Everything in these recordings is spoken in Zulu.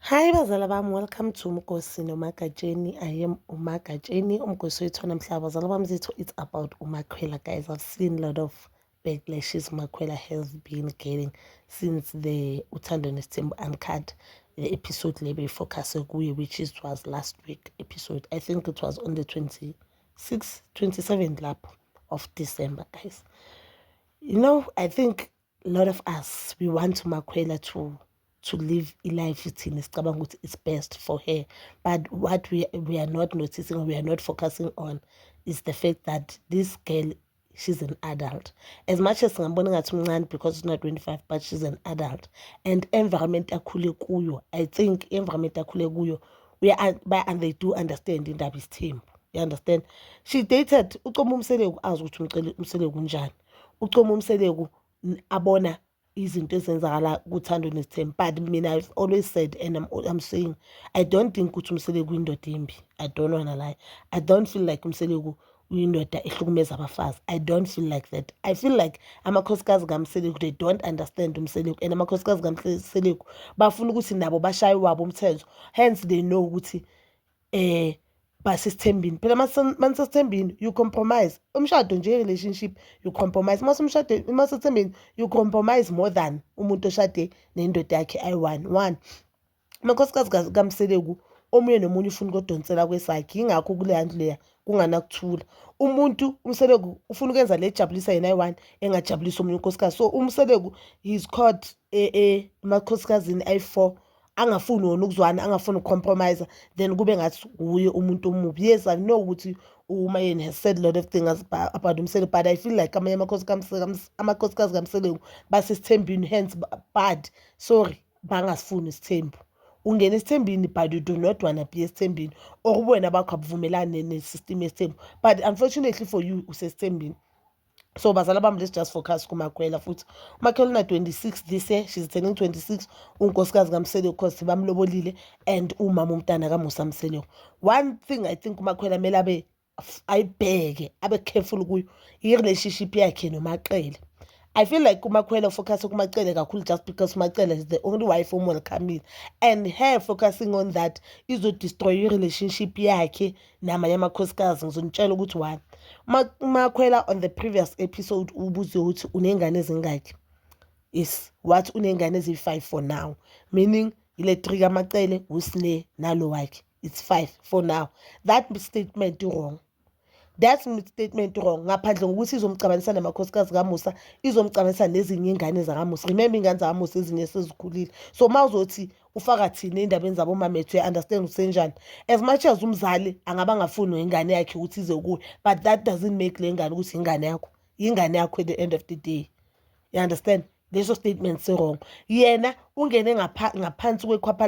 Hi bazala bami, welcome to Umgosi noMagatsheni. I am uMagatsheni, umgosi wethu namhlanje. Bazala bami zethu, it's about uMakhwela guys. I've seen a lot of backlashes Makhwela has been getting since the Uthando Nesthembu Uncut the episode le beyifocus kuye which is was last week episode. I think it was on the 26th, 27th lap of December guys. You know, I think a lot of us we want to makhwela to to live ilife ithina sicabanga ukuthi it's best for her but what we, we are not noticing or we are not focusing on is the fact that this girl she's an adult as much as ngambona ngathi umncane because she's not 25 but she's an adult and environment akhule kuyo i think environment akhule kuyo we are, and they do understand indaba isithembu you understand she dated ucoma umseleku azi ukuthi umseleku unjani ucoma umseleku abona izinto ezenzakala kuthando nesithembu but mina i've always said and I'm, I'm saying i don't think ukuthi umseleku uyindoda embi i don't wanna lie i don't feel like umseleku uyindoda ehlukumeza abafazi i don't feel like that i feel like amakhosikazi kamseleku they don't understand umseleku and amakhosikazi kamseleku bafuna ukuthi nabo bashaye wabo umthetho hence they know ukuthi eh basesithembini phela manisesithembini you compromise umshado nje relationship you compromise uma umshado uma sethembini you compromise more than umuntu oshade nendoda yakhe ayi-one one amakhosikazi kamseleku omunye nomunye ufuna ukodonsela kwesakhe yingakho kuleya ndlu leya kunganakuthula umuntu umseleku ufuna ukwenza le jabulisa yena ayi-one engajabulisa omunye unkosikazi so umseleku he's caught e, e, emakhosikazini ayi-four angafuni wona ukuzwana angafuni uku-compromise then kube ngathi wuye umuntu omubi yes i know ukuthi umayeni has said a lot of things about umsele but i feel like amanye amakhosikazi kamseleku basesithembini hence bad sorry bangasifuni isithembu ungena esithembini but you do not wanna be esithembini or ubuwena bakho abuvumelani nesystem yesithembu but unfortunately for you usesithembini so bazala bami let's just focus kumakwela futhi umakhela una-26 this year she's turning 26 unkosikazi kamseleko cause bamlobolile and umama umntana kamusa mseleko one thing i think umakhwela kumele abe ayibheke abe careful kuyo i-relationship yakhe nomaqele I feel like uMakhwela focus kumacele kakhulu just because uMacele is the only wife omwelcomile and her focusing on that izo destroy i-relationship yakhe namanye amakhosikazi ngizonitshela ukuthi why makhwela on the previous episode ubuze ukuthi uney'ngane ezingaki yes wathi uney'ngane eziyi-five for now meaning ile three kamacele usine nalo wakhe it's five for now that statement wrong that statement wrong ngaphandle ngokuthi izomcabanisa namakhosikazi kamusa izomcabanisa nezinye iy'ngane zakamusa remember iy'ngane zakamusa ezinye sezikhulile so uma uzothi ufaka thina ey'ndabeni zabo mamethu uya-understand ukuthi senjani as much as umzali angaba angafuni wengane yakhe ukuthi ize kuye but that doesn't make le ngane ukuthi ingane yakho ingane yakho at the end of the day you understand leso statement si-wrong yena ungene ngaphansi kwekhwapha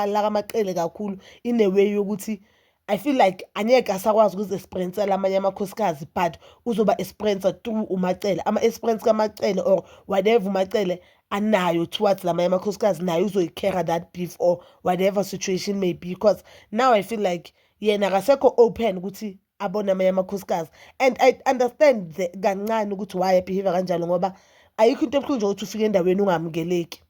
lakamaqele kakhulu ineweyi yokuthi I feel like angeke asakwazi ukuzi-experiencela amanye amakhosikazi but uzoba experiencer through uMacele ama-experience kaMacele or whatever uMacele anayo towards lamanye amakhosikazi naye uzoyi-carry that beef or whatever situation may be because now I feel like yena akasekho open ukuthi abone amanye amakhosikazi and I understand the kancane ukuthi why behave kanjalo ngoba ayikho into ebuhlungu nje ukuthi ufike endaweni ungamukeleki.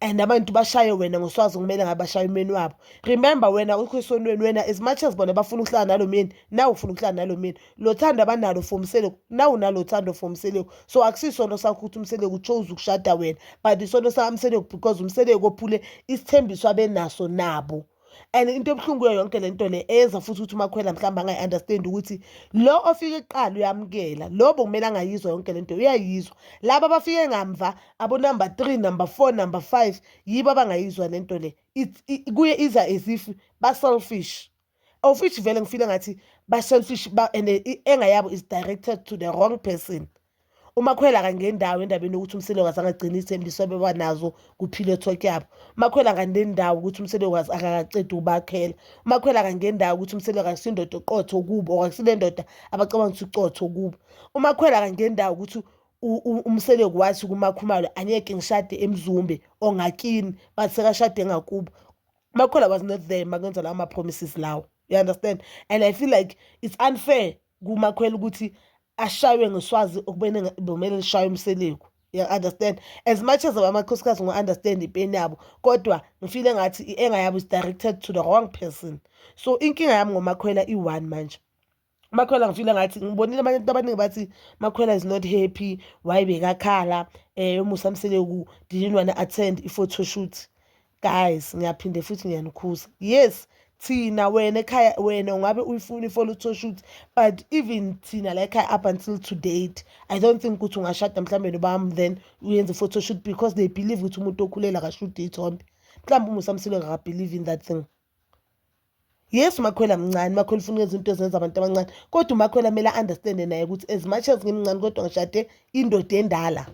and abantu bashaye wena ngoswazi kumele ngabe bashaye umyeni wabo remember wena ukho esonweni wena as much as bona bafuna ukuhlala nalo myeni nawe ufuna ukuhlala nalo myeni lo thando abanalo for umseleku nawe unalo thando for umseleku so akusisono sakho ukuthi umseleku chose ukushada wena but isono sakamseleku because umseleku ophule isithembiso abenaso nabo and into ebuhlungu kuyo yonke le nto le eyenza futhi ukuthi umakhwela mhlawumbe angayi-understand ukuthi lo ofike kuqala uyamukela lo bokumele angayizwa yonke le nto uyayizwa laba abafike ngamva abonumber three number four number five yibo abangayizwa le nto le kuye iza as if ba-selfish of which vele ngifile ngathi ba-selfish and engayabo is directed to the wrong person umakhwela akangeni ndawo endabeni yokuthi umselokazi angagcini iy'thembiso abeba nazo kuphile thokyabo umakhwela akangeni ndawo ukuthi umselokazi akakaqedi ukubakhela umakhwela akangeni ndawo ukuthi umselokazi akusindoda oqotho kubo or akusile ndoda abacabanga ukuthi uqotho kubo umakhwela akangeni ndawo ukuthi umseleko wathi kumakhumalo angeke ngishade emzumbe ongakini bathi sekashade engakubo umakhwela was not there makwenza lawo ma-promises lawo you understand and i feel like it's unfair kumakhwela ukuthi ashaywe ngeswazi okubene bomele lishaywe umseleku you understand as much as amakhosikazi ngi-understand ipeni yabo kodwa ngifile ngathi i-anger yabo is directed to the wrong person so inkinga yami ngomakhwela i-one manje makhwela ngifile ngathi ngibonile abanye abantu abaningi bathi makhwela is not happy why bekakhala um eh, umusa mseleku didn't wanna attend i-photo shoot guys ngiyaphinde futhi ngiyanikhuza yes thina wena ekhaya wena ungabe uyifuna i-follow to shoot but even thina la ekhaya up until to date i don't think ukuthi ungashada mhlawumbe nobami then uyenze i-photo shoot because they believe ukuthi umuntu okhulela akashude iy'thombe mhlawumbe umusamsilo ngakabelieve in that thing Yes uMakhwela mncane, uMakhwela ufuna ukwenza into ezenza abantu abancane kodwa uMakhwela kumele a-understande naye ukuthi as much as ngimncane kodwa ngishade indoda endala.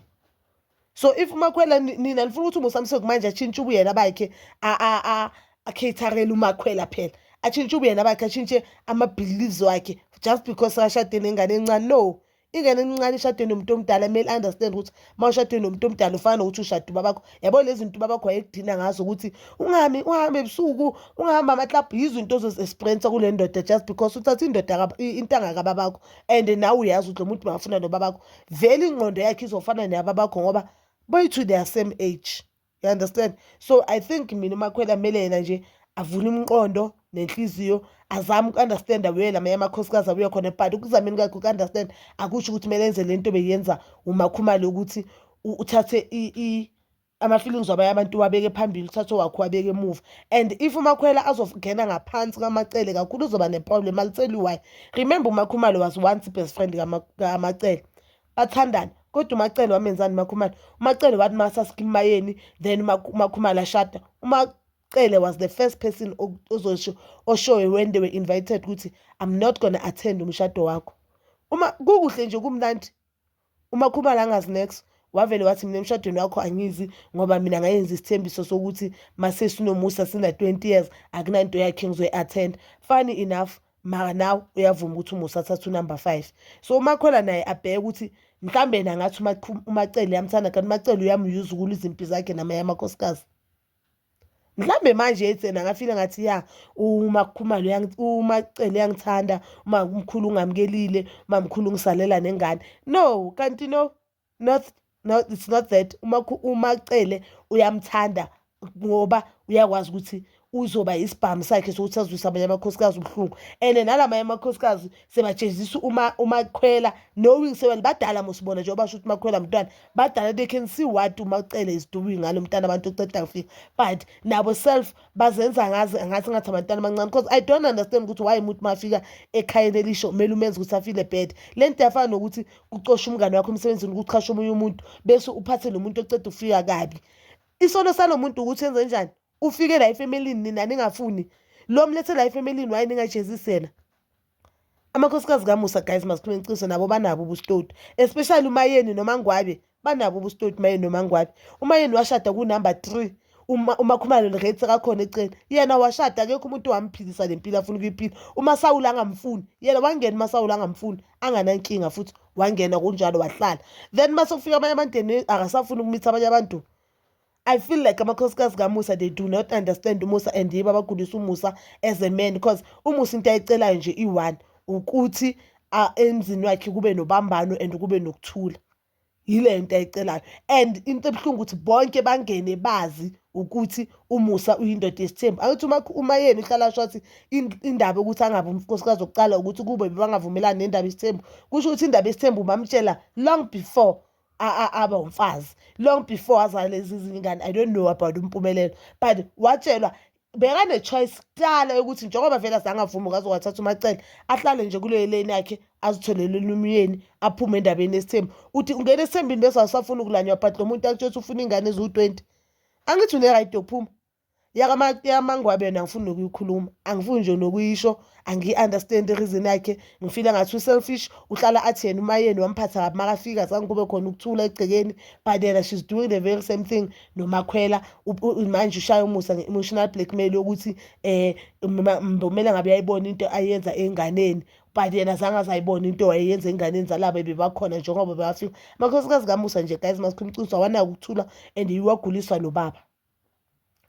So if uMakhwela nina nifuna ukuthi uMusa Msweli manje atshintshe ubuyena bakhe a-caterele uMakhwela phela, atshintshe ubuyena bakhe, atshintshe ama-beliefs wakhe just because sekashade nengane encane, no. ingane encane ishade nomuntu omdala kumele understand ukuthi uma ushade nomuntu omdala ufana nokuthi ushade ubabakho yabo lezi zinto ubabakho wayekudina ngazo ukuthi ungami uhambe ebusuku ungahambi amaklabhu yizo into ozozi-experiensa kule ndoda just because uthatha indoda intanga kababakho and nawe uyazi ukuthi lo muntu makafuna nobabakho vele ingqondo yakhe izofana neyababakho ngoba boy to their same age you understand so i think mina umakhwela kumele yena nje avule umqondo nenhliziyo azame uku-understanda weye lamanye amakhosikazi abuye khona but ukuzameni kwakhe uku-understand akusho ukuthi kumele enze le nto beyenza umakhumali ukuthi uthathe ama-feelings wabanye abantu wabeke phambili uthathe wakho wabeke emuva and if umakhwela azongena ngaphansi kwamacele kakhulu uzoba neproblem alitsheli why remember umakhumalo was once best friend kamacele bathandane kodwa umacele wamenzani umakhumalo umacele wathi masasikimayeni then umakhumalo ashada umacele was the first person ozosho oshoyo when they were invited ukuthi i'm not gonna attend umshado wakho uma kukuhle nje kumnandi umakhumalo angazi next wavele wathi mina emshadweni wakho angizi ngoba mina ngayenza isithembiso sokuthi masesinomusa sina-20 years akunanto yakhe ngizoyi-attend funny enough maka nawe uyavuma ukuthi umusa athatha unumber five so umakhwela naye abheke ukuthi mhlawumbe yena ngathi umacele yamthanda kanti umacele uyamuyuza ukula izimpi zakhe namanye amakhosikazi mhlawumbe manje ethi yena ngafile ngathi ya umakhumalo umacele uyangithanda umamkhulu ungamukelile umamkhulu ungisalela nengane no kanti no not no it's not that uMaCele uyamthanda ngoba uyakwazi ukuthi uzoba isibhamu sakhe sokuthi azwise amanye amakhosikazi ubuhlungu and nala manye amakhosikazi sebajezisa uma umakhwela knowing sewena badala mosibona nje obasho ukuthi makhwela mntwana badala they can see what umacele is doing ngalo mntana abantu oceda kufika but nabo self bazenza ngazi ngathi ngathi abantwana abancane because i don't understand ukuthi why umuntu mafika ekhayeni elisho kumele umenze ukuthi afile bad le nto yafana nokuthi ucosha umngane wakho emsebenzini ukuchasha omunye umuntu bese uphathe lo muntu oceda ukufika kabi isono salo muntu ukuthi enze njani ufike la efemelini nina ningafuni lo mlethe la efemelini waye ningajezisela amakhosikazi kamusa guys masikhulume iqiniso nabo banabo ubustoti especially umayeni noma ngwabe banabo ubustoti mayeni nomangwane umayeni washada kunumber three umakhumalo lirate sekakhona eceleni yena washada akekho umuntu wamphilisa le mpilo afuna ukuyiphila umasawula angamfuni yena wangena umasawula angamfuni anganankinga futhi wangena kunjalo wahlala then uma sekufika abanye abantu akasafuni ukumitha abanye abantu I feel like amakhosikazi kaMusa they do not understand uMusa and yibo abagulisa uMusa as a man because uMusa into ayicelayo nje i-one ukuthi emzini wakhe kube nobambano and kube nokuthula yile nto ayicelayo and into ebuhlungu ukuthi bonke bangene bazi ukuthi umusa uyindoda yesithembu angithi uma uma yena uhlala asho athi indaba ukuthi angabe umfosikazi wokuqala ukuthi kube bebangavumelani nendaba yesithembu kusho ukuthi indaba yesithembu bamtshela long before aba umfazi long before wazala lezi zingane i don't know about umpumelelo but watshelwa bekane-choice kuqala yokuthi njengoba vele azangavumi ngaze wathatha umacele ahlale nje kuleyo leni yakhe azitholele lumyeni aphume endabeni yesithembu uthi ungena esithembini bese awusafuni ukulanywa but lo muntu akutshela ukuthi ufuna iy'ngane eziwu-twenty angithi une-right yokuphuma yakamangwabe yona angifuni nokuyikhuluma angifuni nje nokuyisho angiyi-understand i-reason yakhe ngifile ngathi u-selfish uhlala athi yena umayeni wamphatha kabi makafika zange kube khona ukuthula egcekeni but yena she's doing the very same thing nomakhwela manje ushaya umusa nge-emotional blackmail yokuthi um kumele ngabe uyayibona into ayenza enganeni but yena zange azayibona into wayeyenza enganeni zalaba bebakhona njengoba bebafika amakhosikazi kamusa nje guys masikhuluma iqiniso awanakuthula and iwaguliswa nobaba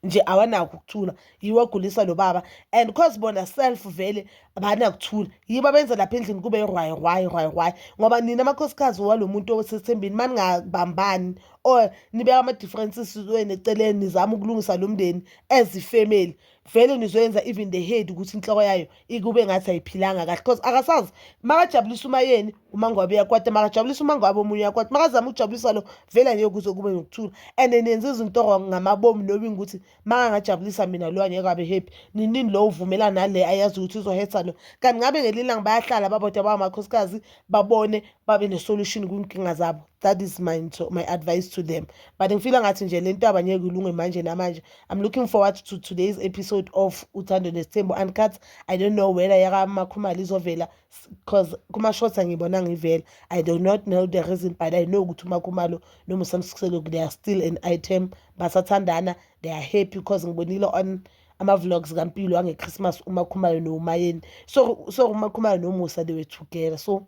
nje awanakho ukuthula yiwo ogulisa lo baba and cause bona self vele abanakuthula yibo abenza lapha endlini kube rwayi rwayi rwayi rwayi ngoba nina amakhosikazi walo muntu osethembeni maningabambani or nibeka ama-differences wenu eceleni nizama ukulungisa lo mndeni as ifemeli vele nizoyenza even the head ukuthi inhloko yayo ikube ngathi ayiphilanga kahle because akasazi makajabulisa umayeni umangwabe uyakwata makajabulisa umangwabe omunye uyakwata makazama ukujabulisa lo vele angeke kuze kube nokuthula and nenza izinto wrong ngamabomu knowing ukuthi makangajabulisa mina lo angeke abe happy ninini lo uvumela nale ayazi ukuthi uzohetha lo kanti ngabe ngelinye ilanga bayahlala babodwa bawamakhosikazi babone babe ne-solution kwinkinga zabo that is my nto my advice to them but ngifila ngathi nje le ntaba ngeke ilunge manje namanje i'm looking forward to today's episode of uthando nesithembu uncut i don't know whether yakamakhumali izovela because kuma-shorts angibona ngivela i do not know the reason but i know ukuthi umakhumalo nomusamsikuselo they are still an item basathandana they are happy because ngibonile on ama-vlogs kampilo angechristmas umakhumalo nomayeni so so umakhumalo nomusa they were together so